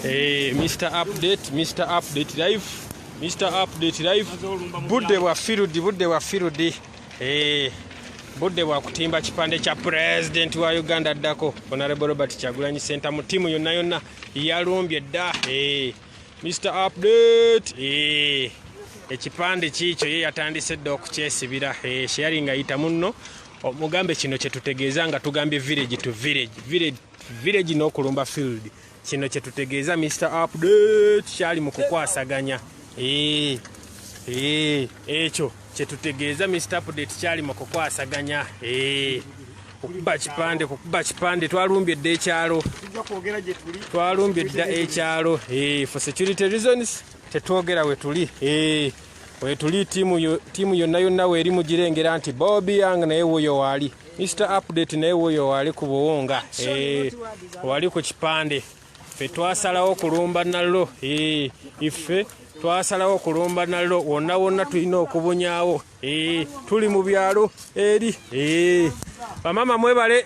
Hey, eh, Mr. Update, Mr. Update Live, Mr. Update Live. Budde bwa firudi, budde bwa firudi. Hey, eh, budde bwa kutimba kipande kya president wa Uganda addako Honorable Robert Kyagulanyi Senta mu timu yonna yonna yalumbye dda. Hey, eh, Mr. Update. Hey. ekipande kiikyo ye yatandise dda okukyesibira sharing ayita munno omugambe kino kyetutegeeza nga tugambye village to village village village n'okulumba field kino kyetutegeeza mr update kyali mu kukwasaganya eh, eh, ekyo kyetutegeeza mr update kyali mu kukwasaganya eh, okukuba kipande kukuba kipande twalumbye dda ekyalo twalumbye dda ekyalo for security reasons tetwogera wetuli eh, wetuli tiimu yonna yonna weeri mugirengera nti bobi yang naye wuyo waali mr update naye wuyo waali ku buwunga eh, wali ku kipande fe twasalawo kulumba nallo eh, iffe twasalawo kulumba nallo wonna wonna tulina okubunyawo Eee, tuli mu byalo eri eee, bamama mwebale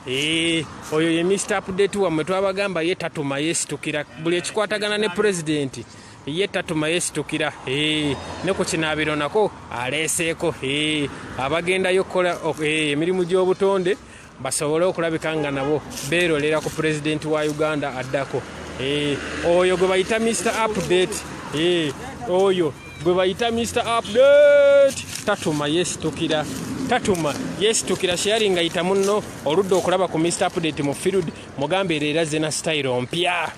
eee, oyo ye mr update wammwe twabagamba ye tatuma yesitukira buli ekikwatagana ne pulezidenti ye tatuma yesitukira eee, ne ku kinaabiro nako aleeseeko eee, abagendayo okukola ok, eee, emirimu gy'obutonde basobole okulabika nga nabo beerolera ku pulezidenti wa uganda addako eh, oyo gwe bayita mr update eh, oyo gwe bayita mr update tatuma yesitukira tatuma yesitukira sharing ayita munno oludde okulaba ku mr update mu field mugambe era era zina style mpya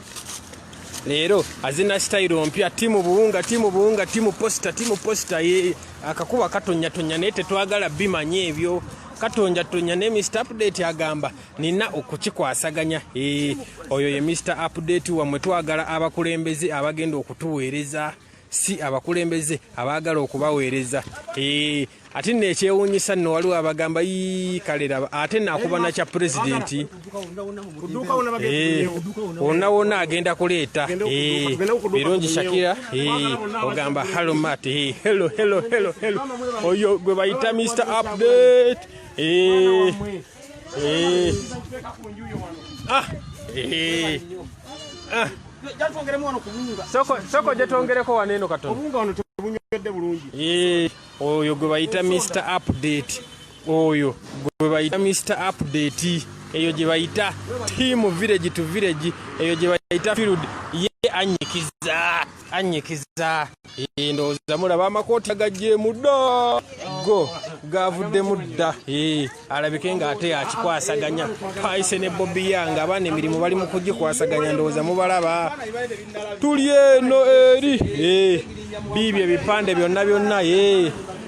leero azina sitayiro mpya timu buwunga timu buwunga timu posita timu posita akakuba katonyatonya naye tetwagala bimanya ebyo katonja tonya ne mr update agamba nina okukikwasaganya e, oyo ye mr update wamwe twagala abakulembeze abagenda okutuweereza si abakulembeze abaagala okubaweereza e, ate nekyewunyisa nno waliwo abagamba yi kalera ate nakuba nakya pulezidenti wonna wonna agenda kuleeta birungi shakira ogamba halomat helo helo helo helo oyo gwe bayita mr update ah ah soko gyetwongereko wano eno katono oyo gwe bayita mr update oyo gwe bayita mr update eyo gye bayita tiimu village to village eyo gye bayita field ye anyikiza anyikiza eh, ndowooza mulaba amakooti agajjeemu dda go gavuddemu dda eh, alabike ng'ate akikwasaganya paise ne bobi yanga abaana emirimu bali mu kugikwasaganya ndowooza mubalaba tuli eno eri eh, biibyo ebipande byonna byonna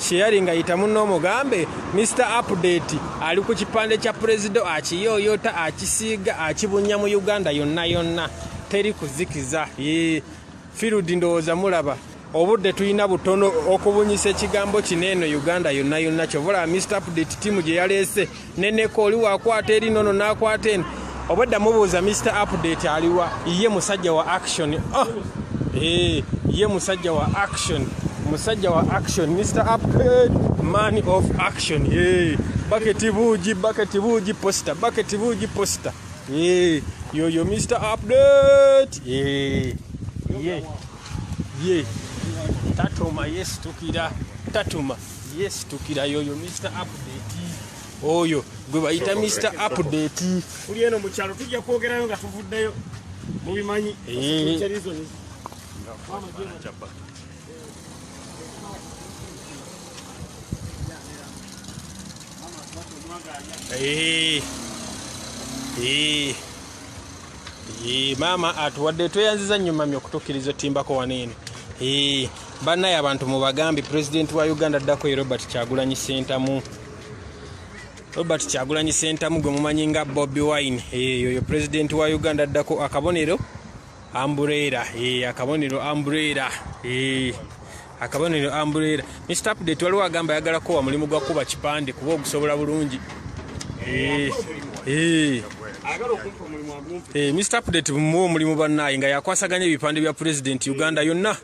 Sharing nga yita munno omugambe Mr Update ali ku kipande kya Prezido akiyooyoota akisiiga akibunya mu Uganda yonna yonna teri kuzikiza yee Field ndowooza mulaba obudde tulina butono okubunyisa ekigambo kino eno Uganda yonna yonna kyovola Mr Update tiimu gye yaleese neneko oli wakwata eri nono nakwata eno obwedda mubuuza mr update aliwa ye musajja wa action oh! hey, eh, ye musajja wa action musajja wa action mr update man of action hey, eh, baketi buugi baketi buugi posta baketi buugi posta hey, eh, yoyo mr update hey, ye ye tatuma yesitukira tatuma Yes, tukira yoyo Mr. Update. Oyo gwe bayita Mr. Update. Kuli eno mukyalo tujja kwogerayo nga tuvuddeyo. Mubimanyi. Eh. Eh. Eh. Eh, mama atuwadde tweyanziza nnyo mami okutukkiriza otimbako wano eno. Eh. Banaye abantu mubagambi president wa Uganda dako Robert Kyagulanyi Sentamu Robert Kyagulanyi Sentamu gwe mumanyi nga Bobby Wine eyo yo president wa Uganda dako akabonero Ambrera eh akabonero Ambrera eh akabonero Ambrera Mr Update waliwo agamba yagala ko wa mulimu gwa kuba kipande kuba okusobola bulungi eh eh Mr. Update mu omulimu bannaye nga yakwasaganya ebipande bya President Uganda yonna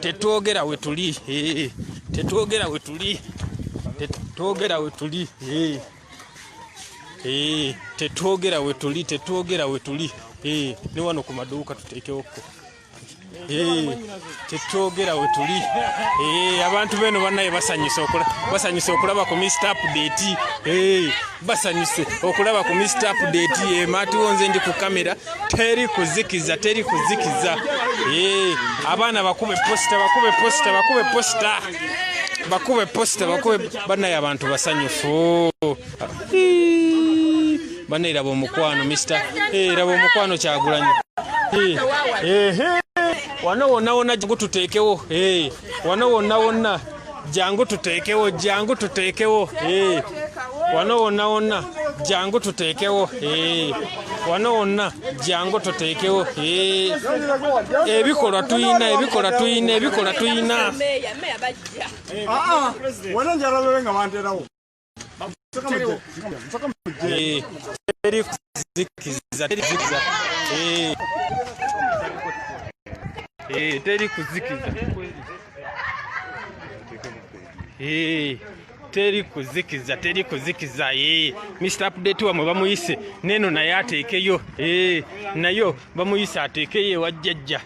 tetwogera wetuli eh, tetwogera wetuli tetwogera wetuli eh, eh, tetwogera wetuli tetwogera wetuli ne wano ku maduuka tuteekewokko tetwogera wetuli abantu beno banaye basanyusa okulaba ku mr update basanyuse okulaba ku mist update ematiwo nze ndi ku kamera teri kuzikiza teri kuzikiza eh, abaana bakube posita bakube posita bakube posita bakube posita bakube banaye abantu basanyufu banaye laba omukwano mista eh, laba omukwano kyagulanyi eh, wano wonna wonna gututeekewo wano wonna wonna jangu tuteekewo jangu tuteekewo eh. wano wonna wonna jangu tuteekewo eh. wano wonna jangu tuteekewo eh. ebikolwa tuyina ebikolwa tuyina ebikolwa tuyina ah, ah. teri kuzikiza teri kuzikiza teri kuzikiza ee mr update wamwe bamuyise neno naye ateekeyo ee nayo bamuyise ateekeyo ewajjajja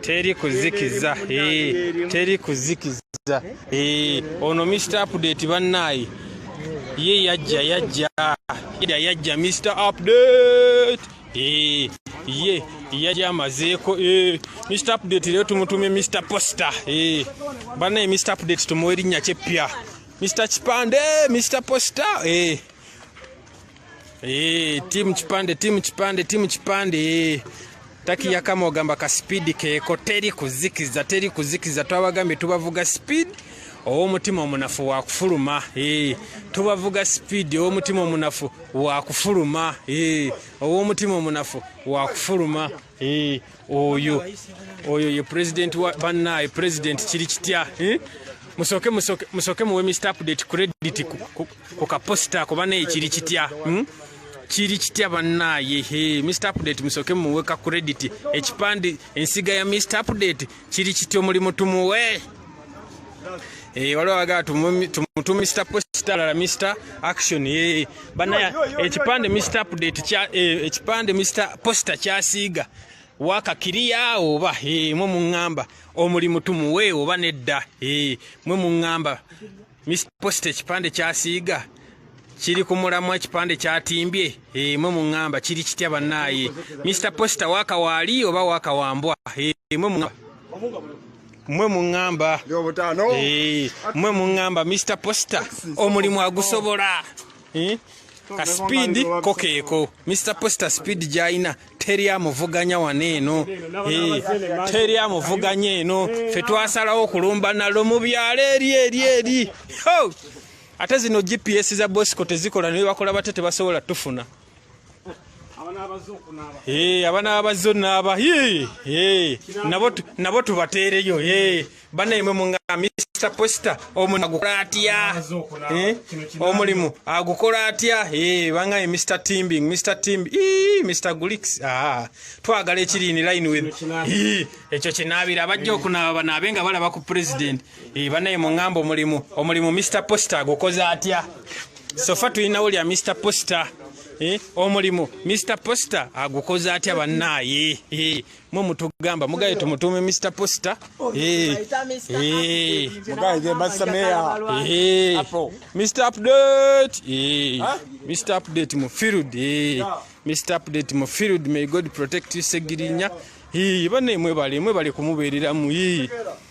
teri kuzikiza eh, teri kuzikiza eh, ono mr update bannaayi ye yajja yajja yajja yajja mr update eh, ye yali amazeeko mr update leero tumutumye mr poster bannaye mr update tumuwa erinnya kyeppya mr kipande mr poster Eee, timu kipande timu kipande timu kipande ee. taki yakama ogamba ka sipiidi keeko teri kuzikiza teri kuzikiza twabagambye tubavuga sipiidi owomutima omunafu wakufuluma ee. tubavuga sipiidi owomutima omunafu wakufuluma ee. owomutima omunafu wakufuluma Eh, oyo oyo ye president wa banaye president kiri kitya eh? musoke musoke musoke muwe mr update credit ku kaposita ku banaye kiri kitya hmm? kiri kitya banaye he mr update musoke muwe ka credit ekipande ensiga ya mr update kiri kiti omulimu tumuwe eh, waliwo abagaa tumutu mr posta lala mr action eh, banaya ekipande mr update eh, ekipande mr posta kyasiiga wakakiriya oba mwe muŋŋamba omulimu tumuwe oba nedda mwe muŋŋamba Mr. Post ekipande kyasiiga kiri ku mulamwa ekipande kyatimbye emwe eh, mu ŋŋamba kiri kitya bannaaye Mr. Posta waaka waali oba waaka wambwa emwe eh, mwe mu ŋŋamba mwe mu ŋŋamba eh, Mr. Posta omulimu agusobola Eh? ka sipiidi ko keeko mr poster sipiidi gy'alina teri amuvuganya wano eno eh, teri amuvuganya eno fe twasalawo okulumba nalo mu byalo eri eri eri ate zino gps za bosco tezikola nebakola bate tebasobola tufuna Eh, abana abazzo naaba eh, eh, nabo tubateereyo banaye mwe munga mr poster omulimu agukola atya omulimu agukola atya bangaye mr timbing mr timb mr gulix ah, twagala ekiriini line with ekyo kinaabira abajja okunaaba banaabe nga balaba ku president banaye mungamba omulimu omulimu mr poster agukoze atya sofa tulinawo lya mr poster eh, omulimu mr poster agukoze atya bannaaye eh, mwe mutugamba mugaye tumutuume mr poster eh, eh, eh, mr update eh, mr update mu field eh, mr update mu field may god protect you segirinya bane mwebale mwebale kumubeereramu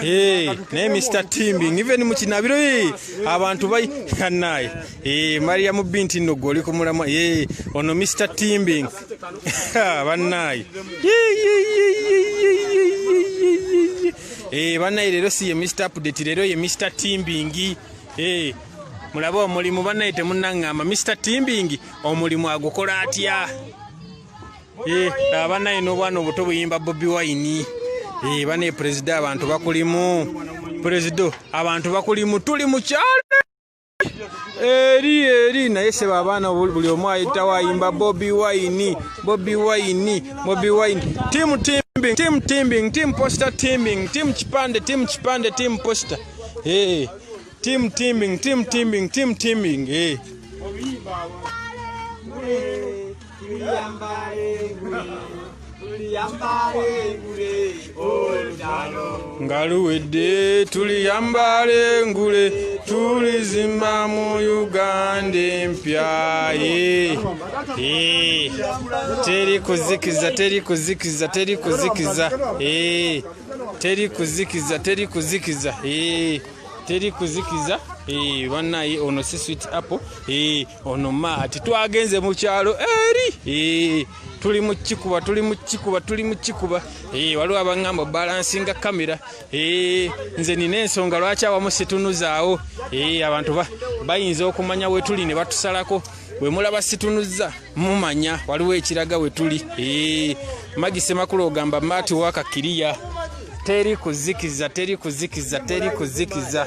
Hey, naye Mr. Timbing even mu kinabiro hey, abantu bayikanaye hey, eh, Mariam binti no goli ku mulama hey, ono Mr. Timbing banaye hey, banaye lero si ye Mr. Update lero ye Mr. Timbing hey, mulaba omulimu banaye temunangamba Mr. Timbing omulimu agukola atya Eh, abana ino obwana obuto buyimba bobi wine eh, bane perezida abantu bakulimu perezida abantu bakulimu tuli mukyalo eri eri naye sebo abaana buli omu ayitawo ayimba bobi wine bobi wine bobi wine timu timbing timu timbing timu posta timbing timu kipande timu kipande timu posta hey. Eh, timu timbing timu timbing timu timbing hey. nga luwedde tuliyambala engule tulizimba mu uganda empya eh. Eh. teri kuzikiza teri kuzikiza teri kuzikiza eh. teri kuzikiza teri kuzikiza teri kuzikiza banaye ono si swit apple ono maati twagenze mu kyalo eri eh, tuli mu kikuba tuli mu kikuba tuli mu kikuba eh, waliwo abaŋŋamba balansinga kamera eh, nze nina ensonga lwaki awamu situnuzaawo abantu bayinza okumanya we tuli ne batusalako bwe mulaba situnuzza mumanya waliwo ekiraga we tuli magi semakulu ogamba maati wakakiriya teri kuzikiza teri kuzikiza teri kuzikiza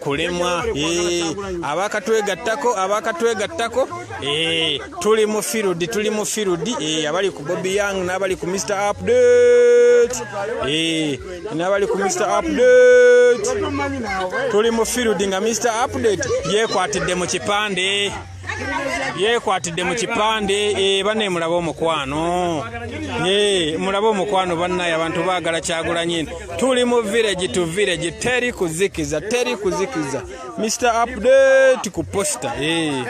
kulemwa abakatwegattako abakatwegattako eh, tuli mu field tuli mu field eh, abali ku bobi young n'abali ku mr update eh, n'abali ku mr update tuli mu field nga mr update yekwatidde mu kipande yekwatidde mu kipande eh, bane mulabe omukwano eh, mulabe omukwano banaye abantu bagala kyagulanyi tuli mu village to village teri kuzikiza teri kuzikiza mr update ku posta eh.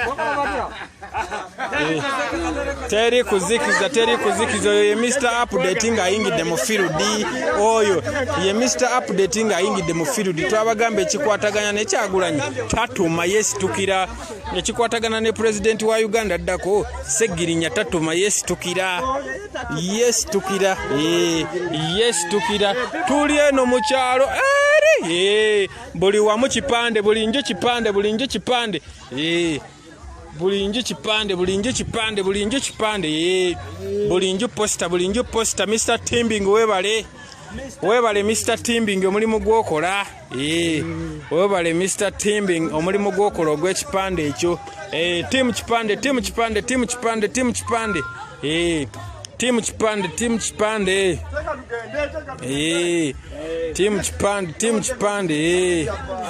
teri kuzikiza teri kuzikiza oyo ye mr update nga ayingidde mu field oyo ye mr update nga ayingidde mu field twabagamba ekikwataganya nekyagulanyi tatuma yesitukira ne kikwatagana ne pulezidenti wa uganda addako segirinya tatuma yesitukira yesitukira eh, yesitukira tuli eno mu kyalo eri eh, buli wamu kipande buli nju kipande buli nju kipande eh, buli nju kipande buli nju kipande buli nju kipande buli nju posita buli nju posita mr timbing webale webale mr timbing omulimu gwokola Ee, webale Mr. Timbing omulimu gw'okola ogw'ekipande ekyo. Ee, tiimu kipande, tiimu kipande, tiimu kipande, tiimu kipande. Ee, tiimu kipande, tiimu kipande. Ee, tiimu kipande, tiimu kipande. Ee.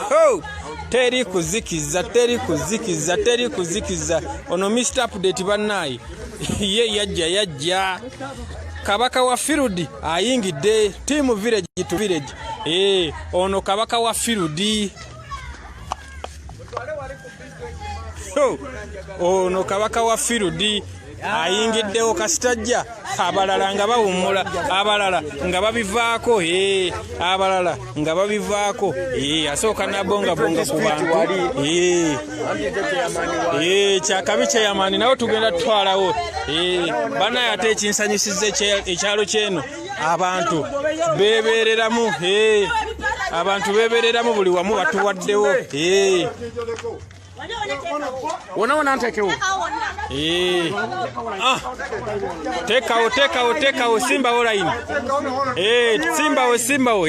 Ho! Teri kuzikiza, teri kuzikiza, teri kuzikiza. Ono Mr. Update bannaayi. Ye yajja, yajja. Kabaka wa Field ayingidde tiimu village to village. Hey, eh, ono kabaka wa firudi oh, ono kabaka wa firudi ayingiddewo kasitajja abalala nga bawummula abalala nga babivaako eh, abalala nga babivaako eh, asooka nabongabonga ku bantu eh, kyakabi kyeyamaani nawe tugenda tutwalawo banaye ate ekinsanyusiza ekyalo kyeno abantu bebereramu abantu bebereramu buli wamu batuwaddewo wona wona ntekewo ah. tekawo tekawo tekawo simbawo layini simbawo simbawo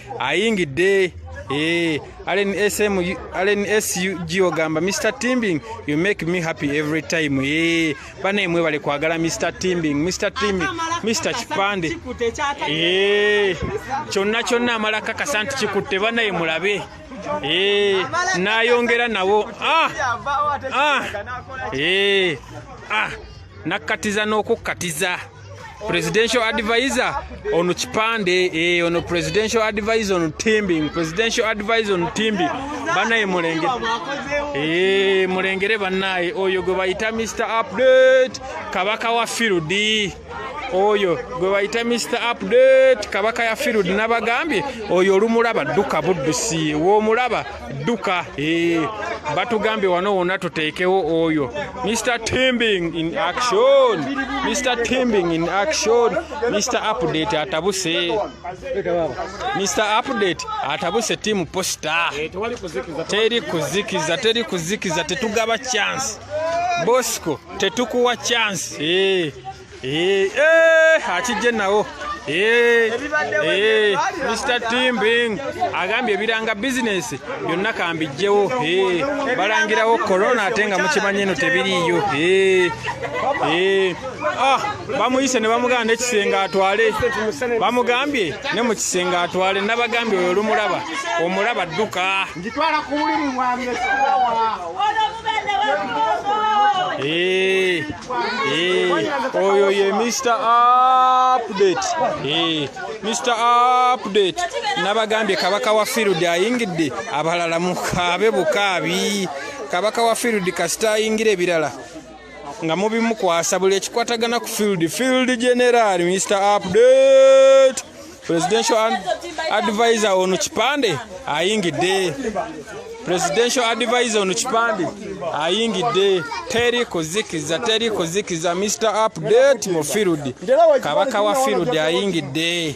ayingidde Hey, eh, Allen SM, Allen SUG ogamba Mr Timbing, you make me happy every time. Hey, eh, bane mwebale kwagala Mr Timbing, Mr Timbing, Mr Chipande. Hey, eh, kyonna kyonna amala kakasa nti kikutte banaye mulabe. Hey, nayongera nawo. Ah, ah, hey, ah, nakatiza n'okukkatiza. presidential advisor on kipande eh, on presidential advisor on timbing presidential advisor on timbing banaye mulenge eh, mulengere banaye oyo gwe bayita mr update kabaka wa field oyo gwe bayita mr update kabaka ya field nabagambye oyo olumulaba dduka buddusi womulaba duka eh, batugambye wano wona tuteekewo oyo mr timbing in action mr timbing in action mr update atabuse mr update atabuse timu posta eh, teri kuzikiza teri kuzikiza tetugaba chance bosco tetukuwa chance eh. Eh, eh, akijje nawo eh, mr timbing agambye ebiranga bizinesi byonna kambijjewo balangirawo korona ate nga mukimanyi eno tebiriiyo ah, bamuyise ne bamugamba nekisenge atwale bamugambye ne mu kisenge atwale nabagambye oyo olumulaba omulaba dduka Njitwala ku buliri bwange sikawa. Eh, eh, oyo ye Mr. Update. Eh, Mr. Update. Nabagambye kabaka wa field ayingidde abalala mukaabe bukaabi. Kabaka wa field kasita ayingira ebirala. nga mubimukwasa buli ekikwatagana ku field field general mr update presidential advisor ono kipande ayingidde presidential advisor ono kipande ayingidde teri kuzikiza teri kuzikiza mr update mu field kabaka wa field ayingidde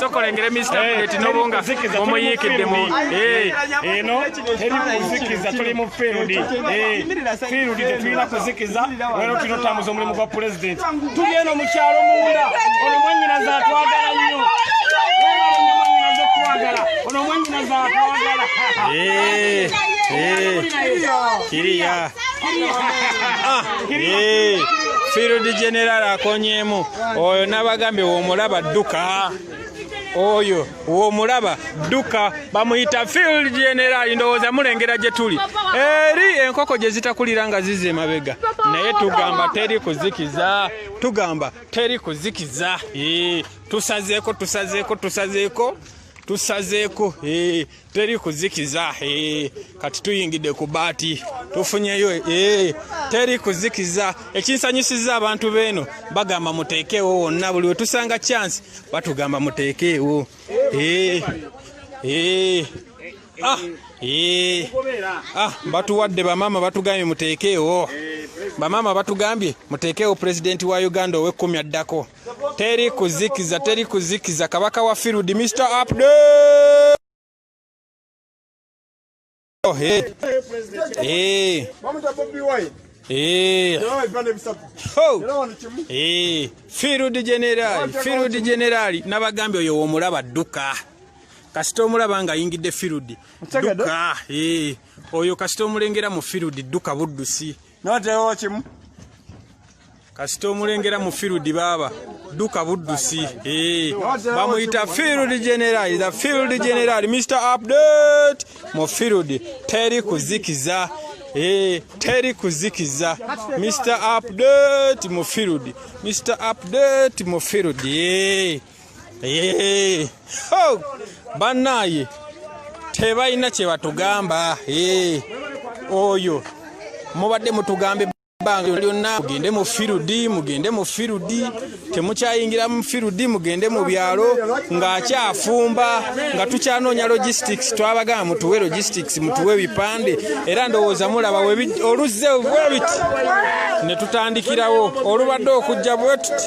sokolengere mista buleti nobunga omuyiikidde mu eno teri kuzikiza tuli mu field field tetulina kuzikiza wero tulina otambuza omulimu gwa pulezidenti tuli eno mu kyalo munda ono mwanyinaza atwagala nnyo ono mwanyinaza atwagala kiriya Ah, eh, field general akonyeemu oyo nabagambye womulaba dduka oyo womulaba dduka bamuyita field general ndowooza mulengera gye tuli eri enkoko gye zitakulira nga zize emabega naye tugamba teri kuzikiza tugamba teri kuzikiza eh, tusazeeko tusazeeko tusazeeko tusazeeko eh, teri kuzikiza eh, kati tuyingidde ku baati tufunyeyo eh, teri kuzikiza ekinsanyusiza abantu beeno bagamba muteekeewo wonna buli wetusanga chance batugamba muteekeewo eh, ah, ah, batuwadde bamaama batugambye muteekeewo bamaama batugambye muteekeewo pulezidenti wa uganda ow'ekkumi addako teri kuzikiza teri kuzikiza kabaka wa field mr update oh, hey. Hey. Eh. Eh. Eh. field general field general nabagambye oyo womulaba dduka kasita omulaba nga ayingidde field dduka oyo kasita omulengera mu field dduka buddusi notewo kimu kasita omulengera mu field baaba duka buddusi eh, bamuyita field general the field general mr update mu field teri kuzikiza eh, teri kuzikiza mr update mu field mr update mu field eh. Hey. Oh. Banaye tebalina kye batugamba hey. Oyo mubadde mutugambe banga lyonna mugende mu firudi mugende mu firudi temukyayingira mu firudi mugende mu byalo ng'akyafumba nga tukyanoonya logistics twabagamba mutuwe logistics mutuwe ebipande era ndowooza mulaba oluzze bwebiti ne tutandikirawo olubadde okujja bwetuti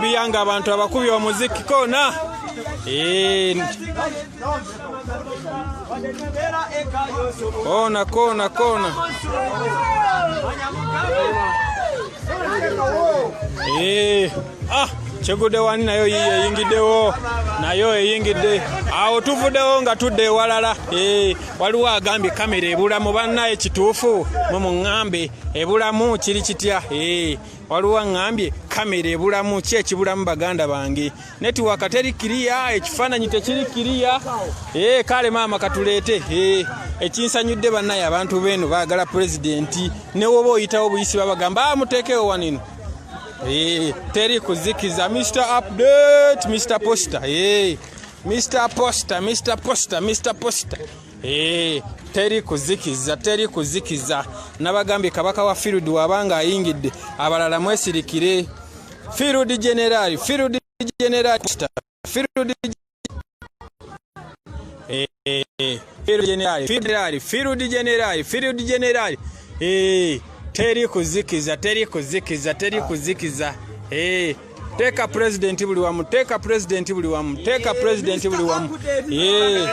biyanga abantu abakubi omuziki kona kona kona kona eh, ah kyegude wani nayo yiyo eyingiddewo nayo eyingidde awo tuvuddewo nga tudde ewalala eh, waliwo agambye kamera ebulamu bannaye kituufu mwe muŋŋambe ebulamu kiri kitya eh. waliwo aŋŋambye kamera ebulamu ki ekibulamu baganda bange netiwaka teri kiriya ekifaananyi tekiri kiriya ee kale maama katuleete ee ekinsanyudde bannaye abantu beeno baagala pulezidenti newoba oyitawo buyisi babagamba ah, muteekewo wanino ee teri kuzikiza mr update mr poster ee mr poster mr poster mr poster Eee, eh, teri kuzikiza teri kuzikiza nabagambye kabaka wa field waba nga ayingidde abalala mwesirikire field general field general field eh, eh, eh field general field general field general field general eh teri kuzikiza teri kuzikiza teri kuzikiza eh Teka president buli wamu, teka president buli wamu, teka president buli wamu. Eh.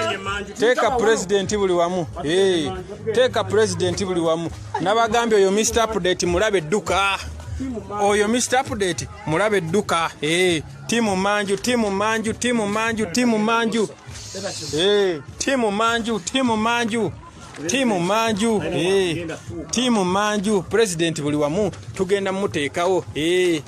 Teka president buli wamu. Eh. Teka president buli wamu. Nabagambye oyo Mr update mulabe duka. Oyo Mr update mulabe duka. Eh. Timu manju, timu manju, timu manju, timu manju. Eh. Timu manju, timu manju. tiimu manju eh. tiimu manju pulezidenti buli wamu tugenda muteekawo eh.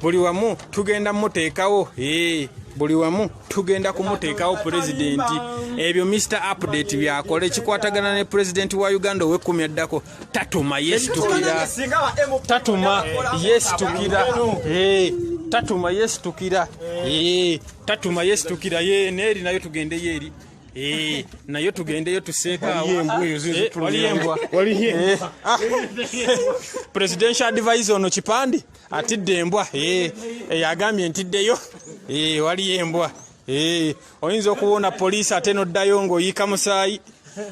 buli wamu tugenda muteekawo eh. buli wamu tugenda kumuteekawo pulezidenti ebyo mr update byakola ekikwatagana ne pulezidenti wa uganda owekumi addako tatuma yesitukira tatuma yesitukira tatuma yesitukira tatuma yesitukira ye neeri nayo tugendeyo eri Eh, nayo tugendeyo tuseekaawopresidential eh, advise ono kipande atidde embwa eh, yagambye ntiddeyo waliyo embwa oyinza okuwona poliisi ate noddayo ngaoyiika musaayi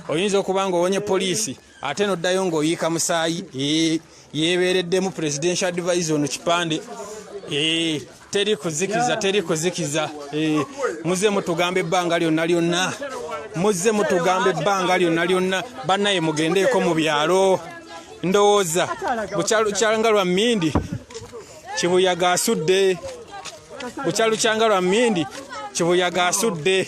oyinza okuba nga owonye poliisi ate noddayo ng'oyiika musaayi eh, yeebeereddemu presidential advise ono kipande eh, teri kuzikiza teri kuzikiza eh, muze mutugamba ebbanga lyonna lyonna muze mutugamba ebbanga lyonna lyonna bannaye mugendeeko mu byalo ndowooza bukyalukyanga lwa mmindi kibuyaga asudde bukyalukyanga lwa mmindi kibuyaga asudde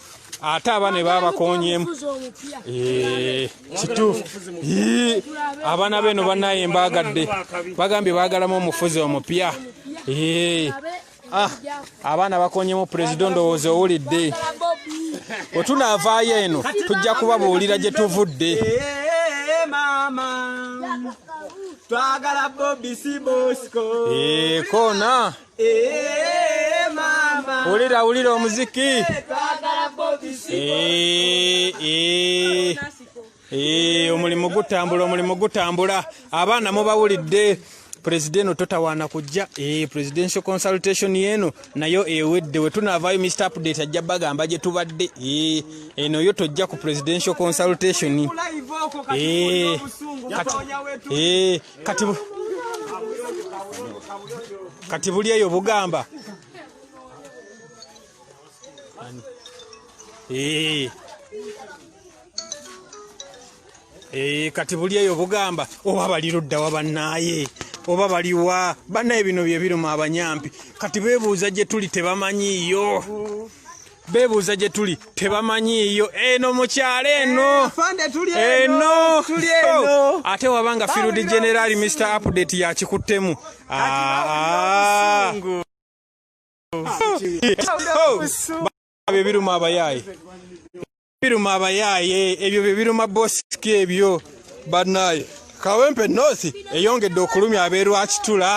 ate abaana ebabakonyeemu eh, kituufu abaana beeno banaye mbagadde bagambye bagalamu omufuzi omupya eh, ah, abaana bakonyemu pulezida ndowooza owulidde wetunaavaayo eno tujja kubabuulira gye tuvudde eh, maama twagala bobi si bosco ekona eh, wulira wulira omuziki omulimu gutambula omulimu gutambula abaana mubawulidde pulezida eno totawaana kujja e, presidential consultation eno nayo ewedde wetunaavaayo mr update ajja bagamba gye tubadde e, eno yo tojja ku presidential consultation e, kati kati buli eyo bugamba ee eh. ee eh, kati buli eyo bugamba oba bali ludda wa bannaaye oba baliwa bannaye bino bye biruma abanyampi kati beebuuza gye tuli tebamanyiiyo bebuuza gye tuli tebamanyiiyo eno mukyalo eno eh, eno oh, ate waba nga field general mr update yakikuttemu ebyo ebiruma abayaayi biruma abayaaye ebyo bye biruma bosiki ebyo banaye kawempe north eyongedde okulumya abeerwakitula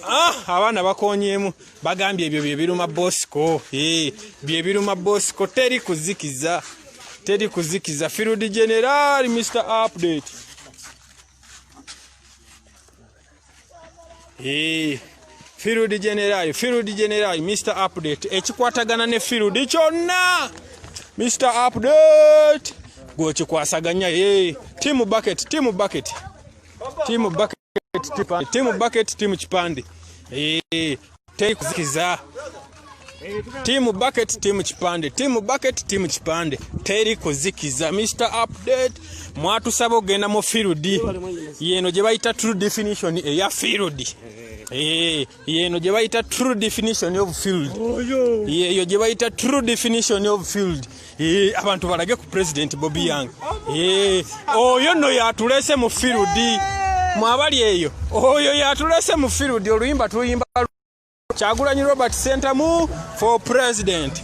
ah, abaana bakonyemu bagambye ebyo bye biruma bosiko eh, bye biruma bosiko teri kuzikiza teri kuzikiza field general mr update Hey. field general field general mr update ekikwatagana ne field kyonna mr update gwekikwasaganya ye team bucket team bucket team bucket team bucket team kipande teri kuzikiza tiimu bucket tiimu kipande tiimu bucket tiimu kipande teri kuzikiza mr update mwatusaba okugenda mu field yeno gye bayita true definition eya field eh, yeno gye bayita true definition of field yeyo gye bayita true definition of field Eh, abantu balage ku president bobi yang eh, oyo no yatulese mu firudi mwabali eyo oyo yatulese mu firudi oluyimba tuyimba kyagulanyi robert sentamu for president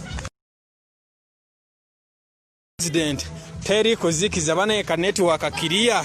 president teri kuzikiza banaye ka network kiriya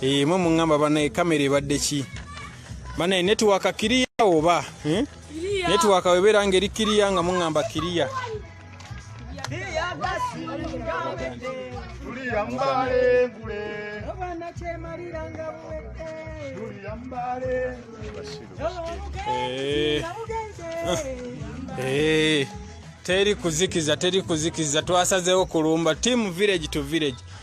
Eh, mwe mungamba banaye kamera ebadde ki banaye netiwaka kiriya oba eh? netiwaka webeera nga eri kiriya nga mungamba kiriya eh, teri kuzikiza teri kuzikiza twasazeewo kulumba team village to village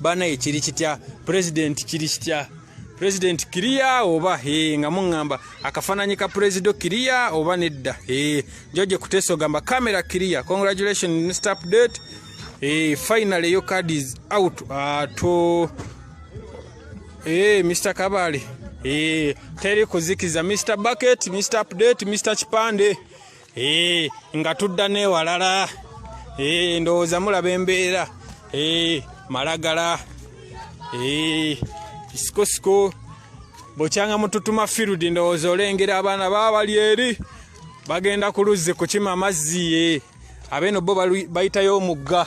banaye kiri kitya pulezidenti kiri kitya pulezidenti kiriya oba e, nga muŋŋamba akafaananyi ka pulezido kiriya oba nedda e, joje kuteesa ogamba kamera kiriya congratulation mr update e, final eyo card is out ato e, mr kabale e, teri kuzikiza mr bucket mr update mr kipande Eh, nga tudda newalala eh, ndowooza mulaba embeera eh, malagala sikosiko bukyanga mututuma field ndowooza olengera abaana baba bali eri bagenda ku luzzi kukima amazzi ye abeeno bo bayitayo omugga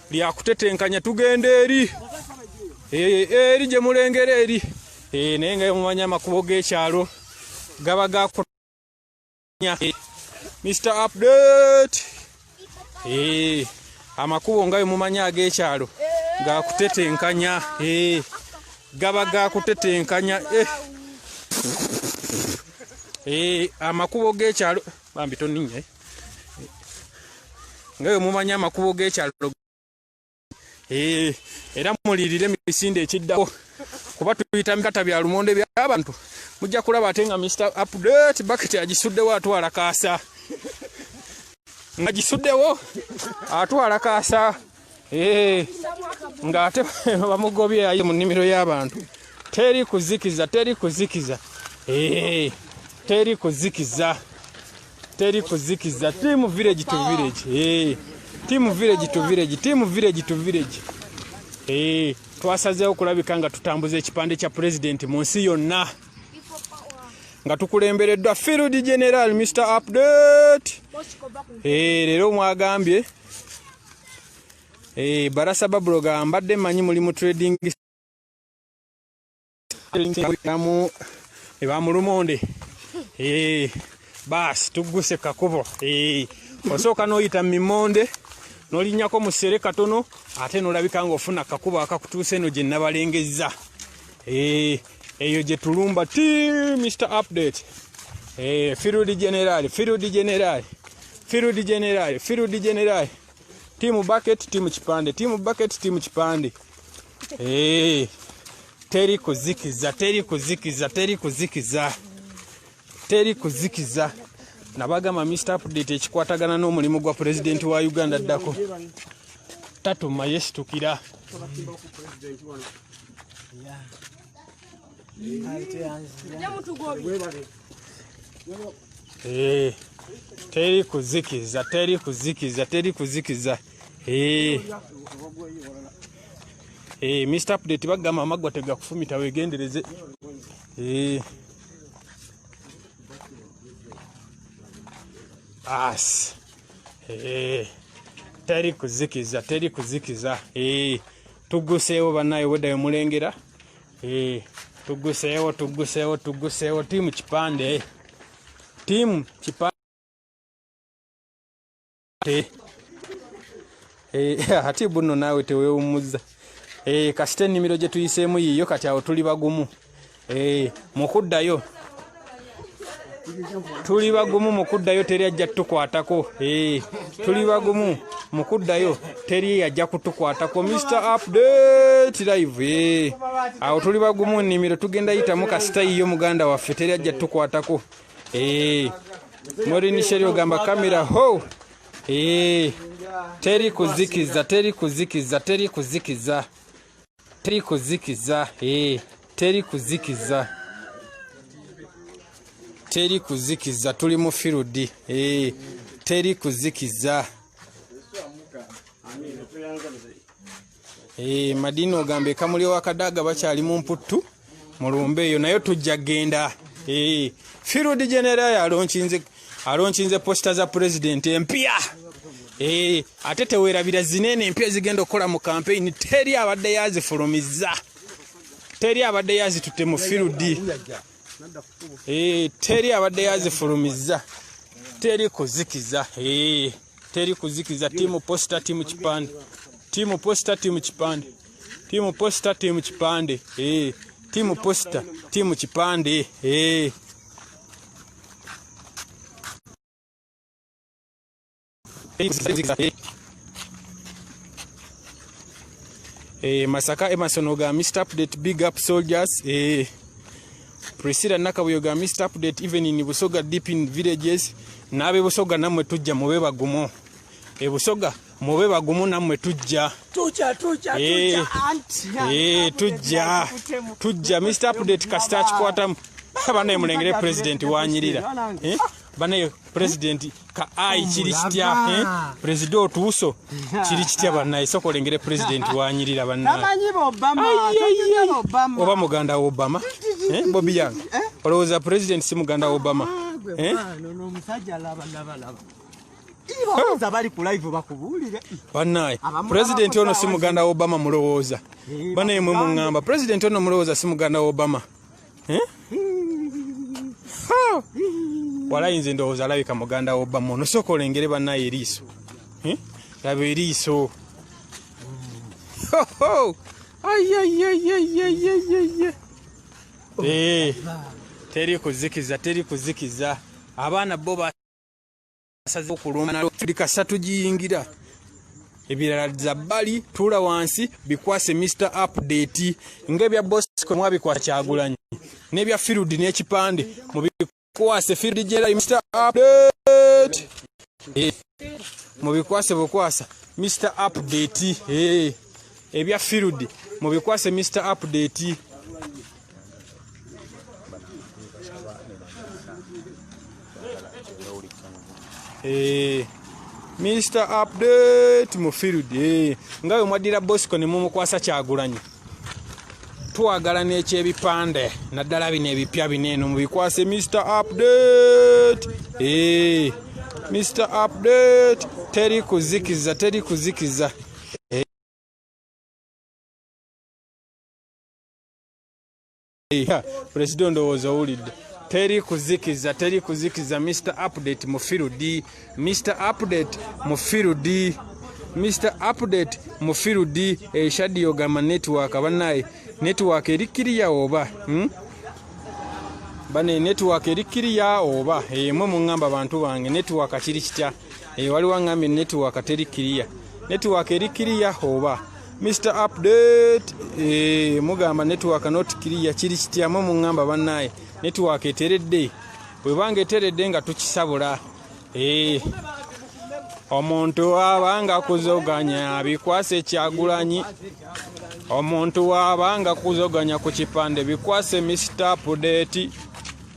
lya kutetenkanya tugenda eri eh, eri gye mulengera eri eh, naye nga mumanya amakubo g'ekyalo gaba gakunya eh, mr update amakubo nga bemumanya ag'ekyalo gakutetenkanya gaba gakutetenkanya amakubo g'ekyalo bambi toninye nga bwe mumanyi amakubo g'ekyalo eh, era mulirire misinde ekiddako kuba tuyita mikata bya lumonde byabantu mujja kulaba ate nga mr update baket agisuddewo atwala kaasa nga gisuddewo atwala kaasa Eh, nga ate bamugobye aye mu nnimiro y'abantu teri kuzikiza teri kuzikiza eh, teri kuzikiza teri kuzikiza timu village to village eh, timu village to village timu village to village twasazeewo okulabika nga tutambuza ekipande kya pulezidenti mu nsi yonna nga tukulembereddwa field general mr update leero mwagambye Eh, barasa babuloga mbadde manyi muli mu trading mu ebamulumonde eh, eh, baasi tugguse kakubo eh, osooka n'oyita mimonde n'olinnyako mu ssere katono ate n'olabika ng'ofuna kakubo akakutuusa eno gye nabalengezza eh, eyo gye tulumba ti mr update eh, firudi generali firudi generali firudi generali firudi generali tiimu bucket tiimu kipande tiimu bucket tiimu kipande eh, teri kuzikiza teri kuzikiza teri kuzikiza teri kuzikiza nabagamba mr update ekikwatagana n'omulimu gwa pulezidenti wa uganda ddako tatuma yesitukira Eh, teri kuzikiza teri kuzikiza teri kuzikiza eh. Eh, mr update bagamba amagwa tegakufumita wegendereze as teri kuzikiza teri kuzikiza tugguseewo banaye obwedda wemulengera eh, tugguseewo tugguseewo tugguseewo tiimu kipande tiimu kipande eh, ati buno naawe tewewumuzza eh, kasita ennimiro gye tuyiseemu yiiyo kati awo tuli bagumu eh, mu kuddayo tuli bagumu mu kuddayo teri ajja kutukwatako eh, tuli bagumu mu kuddayo teri ajja kutukwatako mr update live eh, awo tuli bagumu nnimiro tugenda yitamu kasitayi yo muganda waffe teri ajja kutukwatako eh, morinisheri ogamba kamera ho teri kuzikiza teri kuzikiza teri kuzikiza teri kuzikiza eh, teri kuzikiza teri kuzikiza tuli mu firudi eh, teri kuzikiza eh, madini ogamba ekamuli wakadaaga bakyali mu mputtu mulumbe eyo nayo tujja genda eh, field general alonkinze alonkinze posta za president empya eh, ate tewerabira zinene empya ezigenda okukola mu campaign teri abadde yazifulumiza teri abadde yazitutte mu field eh, teri abadde yazifulumiza teri kuzikiza eh. teri kuzikiza timu posta timu kipande timu posta timu kipande timu posta timu kipande eh timu posta timu kipande eh Eh, Masaka Emerson Oga, Mr. Update, big up soldiers. Eh, Priscilla Nakabuyo ga Mr Update even in Busoga deep in villages nabe Busoga namwe tujja mube bagumo e Busoga mube bagumo namwe tujja tujja tujja hey. Eh, tujja anti hey, eh, tujja tujja Mr Update kasita kikwata abana emulengere president wanyirira eh? banaye pulezidenti ka ayi kiri kitya eh? pulezida otuuso kiri kitya banaye soka olengere pulezidenti wanyirira banayeoba muganda wa obama eh? bobi yange eh? olowooza pulezidenti si muganda wa obama banaye pulezidenti ono si muganda wa obama mulowooza banaye mwe muŋŋamba pulezidenti ono mulowooza si muganda wa obama eh? walayi nze ndowooza alabika muganda wobama onosooka olengere banaye eriiso eh? laba eriiso eh, teri kuzikiza teri kuzikiza abaana bo asaze okulumba nalo tuli kasatu giyingira ebirala za bali tula wansi bikwase mr update ngebya bosco mwabikwasa kyagulanyi nebya field n'ekipande mubikwase field jera mr update eh, mubikwase bukwasa mr update eh, ebya field mubikwase mr update Eh, Mr update mu field eh, nga we mwaddira bosco ne mumukwasa kyagulanyi twagala n'ekyebipande naddala bino ebipya bino eno mubikwase Mr update eh, Mr update teri kuzikiza teri kuzikiza pulezida ondowooza owulidde teri kuzikiza teri kuzikiza mr update mufirudi mr update mufirudi mr update mufirudi eshadi eh, yogamba network banaye network eri kiriya oba hmm? bane network eri kiriya oba eh, mwe muŋŋamba bantu bange network kiri kitya eh, waliwo aŋŋambye network teri kiriya network eri kiriya oba Mr update eh, mugamba network not clear kiri kityamu mungamba banaye network eteredde webanga eteredde nga tukisabula eh, omuntu abanga kuzoganya abikwase kyagulanyi omuntu wabanga kuzoganya ku kipande bikwase Mr update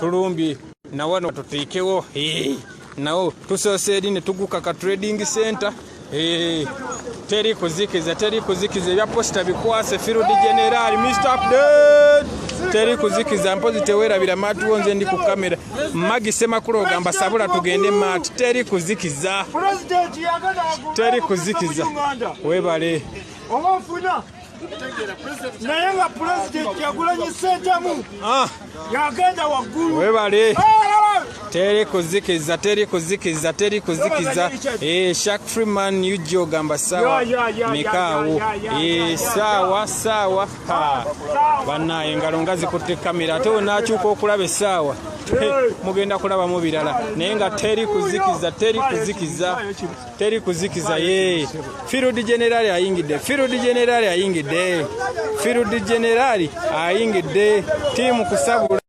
tulumbye nawano tuteekewo nawo tusoose eri ne tuguka ka trading center teri kuzikiza teri kuzikiza ebya posita bikwase field general mr update teri kuzikiza mpozi tewerabira maati wo nze ndi ku kamera magi semakulu ogamba sabula tugende maati teri kuzikiza teri kuzikiza webale naye nga pulezidenti yagulanyi sentamu ah. yagenda waggulu webale ah, ah, teri kuzikiza teri kuzikiza teri kuzikiza eh, shak freeman ug ogamba sawa mikaawo eh, saawa saawa banna engalo nga zikutte kamera ate wenakyuka okulaba esaawa eh, mugenda kulabamu birala naye nga teri kuzikiza teri kuzikiza teri kuzikiza ye firudi generali ayingidde firudi generali ayingidde firudi generali ayingidde tiimu kusabula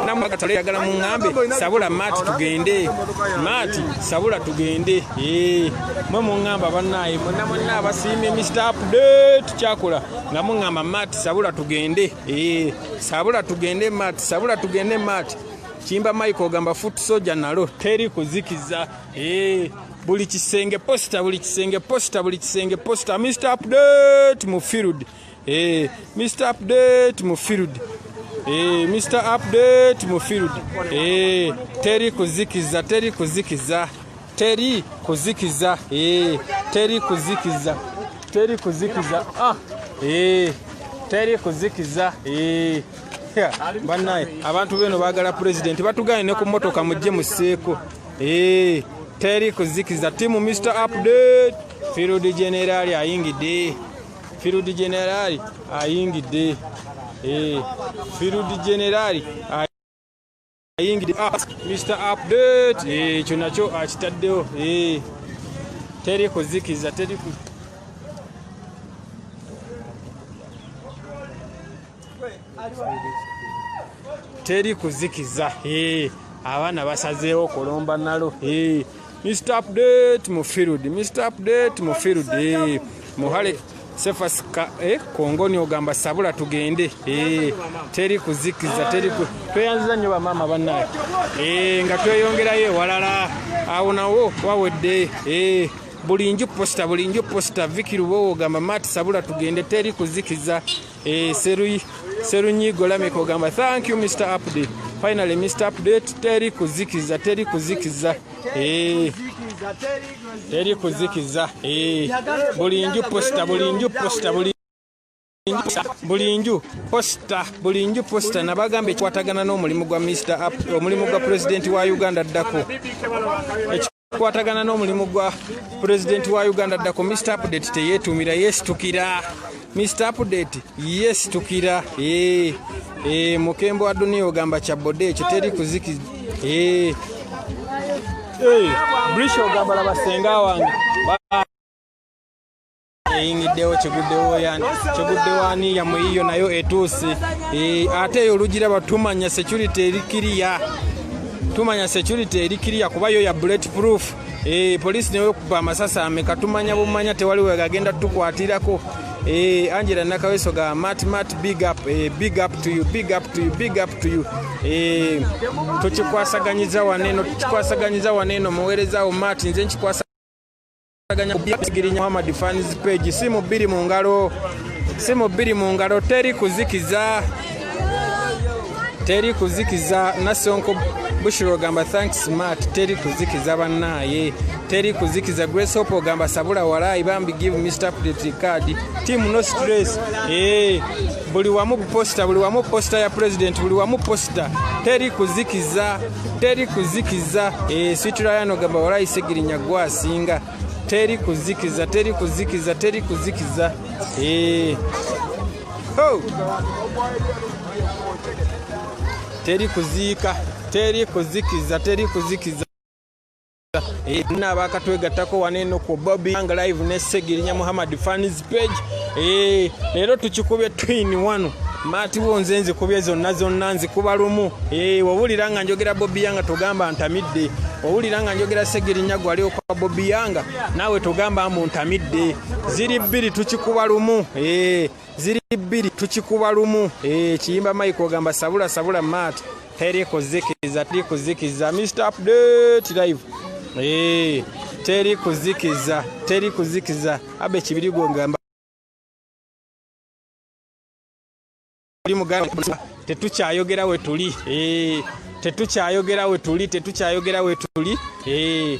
namugatale yagala muŋambe sabula maati tugende maati sabula tugende eh, mwe muŋamba banaye mwena mwena abasiimye mr update kyakula nga muŋamba maati sabula tugende eh, sabula tugende maati sabula tugende maati kimba mike ogamba foot soja nalo teri kuzikiza ee eh, buli kisenge posita buli kisenge posita buli kisenge posita mr update mu field ee eh, mr update mu field ee eh, mr update mu field ee teri kuzikiza teri kuzikiza teri kuzikiza ee eh, teri kuzikiza teri kuzikiza ah ee eh, teri kuzikiza ee eh. banaye abantu beno bagala pulezidenti batugane ne ku motoka mujje museeko ee teri kuzikiza timu mr update field generali ayingidde field generali ayingidde ee field generali ayingide ah, mr update eh, ekyo nakyo akitaddewo ah, eh, teri kuzikiza teri ku teri kuzikiza eh, abaana basazeewo kulomba nalo Mr Update mu field, Mr Update mu field. Eh, muhale Sefas ka, eh, kongoni ogamba sabula tugende eh, teri kuzikiza teri ku tweyanziza nnyo bamaama bannaye eh, nga tweyongerayo ewalala awo nawo wawedde eh, buli nju posita buli nju posita vikiruba ogamba maati sabula tugende teri kuzikiza Eh, serunyigo lameka ogamba thank you mr update finally mr update teri kuzikiza teri kuzikiza eh, teri kuzikiza eh, buli nju posta buli nju posta buli buli nju posita buli nju posita nabagamba ekikwatagana n'omulimu gwa mr omulimu gwa pulezidenti wa uganda addako kwatagana n'omulimu gwa pulezidenti wa uganda ddako mr update teyeetuumira yeesitukira mr update yeesitukira ee eh, ee eh, mukembo wa duniya ogamba kya bode ekyo teri kuziki ee eh, ee brisha ogamba laba senga wange eyingiddewo kiguddewo yani kiguddewo ani yamwe yiyo nayo etuusi eh, ate eyo olugira batumanya security eri kiriya tumanya security eri kiriya kuba yo ya bullet proof eh, poliisi neyokuba amasasi ameka tumanya bumanya tewali wegagenda tukwatirako Eh, Angela Nakaweso ga mat mat big up eh, big up to you big up to you big up to you eh, tukikwasaganyiza waneno tukikwasaganyiza waneno muweereza wo mat nze nkikwasa Girinya Muhammad fans page simu bbiri mu ngalo simu bbiri mu ngalo teri kuzikiza teri kuzikiza nasonko bushiro ogamba thanks smart teri kuzikiza bannaaye teri kuzikiza grace hope ogamba sabula walaayi bambi give mr pretty card team no stress ee eh, buli wamu buposita buli wamu posita ya president buli wamu posita teri kuzikiza teri kuzikiza esitula eh, yano gamba walayi segirinya gwa asinga teri kuzikiza teri kuzikiza teri kuzikiza eh. oh. teri kuziika teri kuzikiza teri kuzikiza Ina abakatwegattako wano eno ku Bobby Young Live ne Segirinya Muhammad fans page. Eh, leero tukikubye twin wano. Mati wo nze nzikubye zonna zonna nzikuba lumu. Eh, wawulira nga njogera Bobby Young togamba ntamidde. Wawulira nga njogera Segirinya gwali okwa Bobby Young nawe togamba mbu ntamidde. Ziri bbiri tukikuba lumu. Eh, ziri bbiri tukikuba lumu. Eh, kiyimba Mike ogamba sabula sabula Mati. teri kuzikiza teri kuzikiza mr update live hey, eh, teri kuzikiza teri kuzikiza abe kibiri gwongamba tetukyayogera wetuli eh, tetukyayogera wetuli tetukyayogera wetuli eh.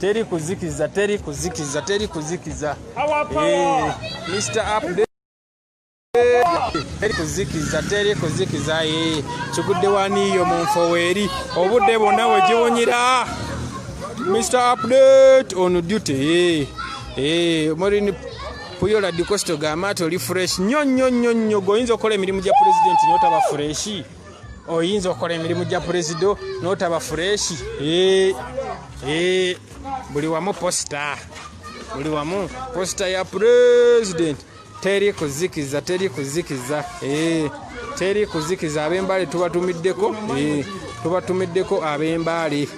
teri kuzikiza teri kuzikiza teri kuzikiza eh, mr update teri kuzikiza teri kuzikiza eh, kigudde waniyo mu nfoweeri obudde bwonna we giwunyira mr update on duty eh, eh, morini puyola dicosto gamati oli fresh nyo nyo nyo nyo goyinza okukola emirimu gya pulezidenti notaba fureshi oyinza okukola emirimu gya purezido notaba fureshi eh, eh, buli wamu posita buli wamu posita ya purezidenti teri kuzikiza teri kuzikiza eh, teri kuzikiza abembale tubatumiddeko tubatumiddeko abembale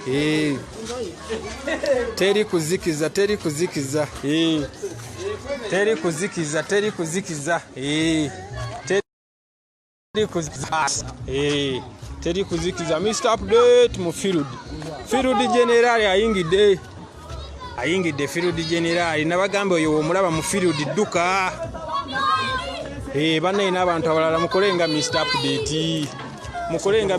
teri kuzikiza teri kuzikiza teri kuzikiza teri kuzikiza Eh, teri kuzikiza mr update mu field field general ayingidde ayingidde field general nabagamba oyo omulaba mu field dduka eh, banaye n'abantu abalala mukole nga mr update mukole nga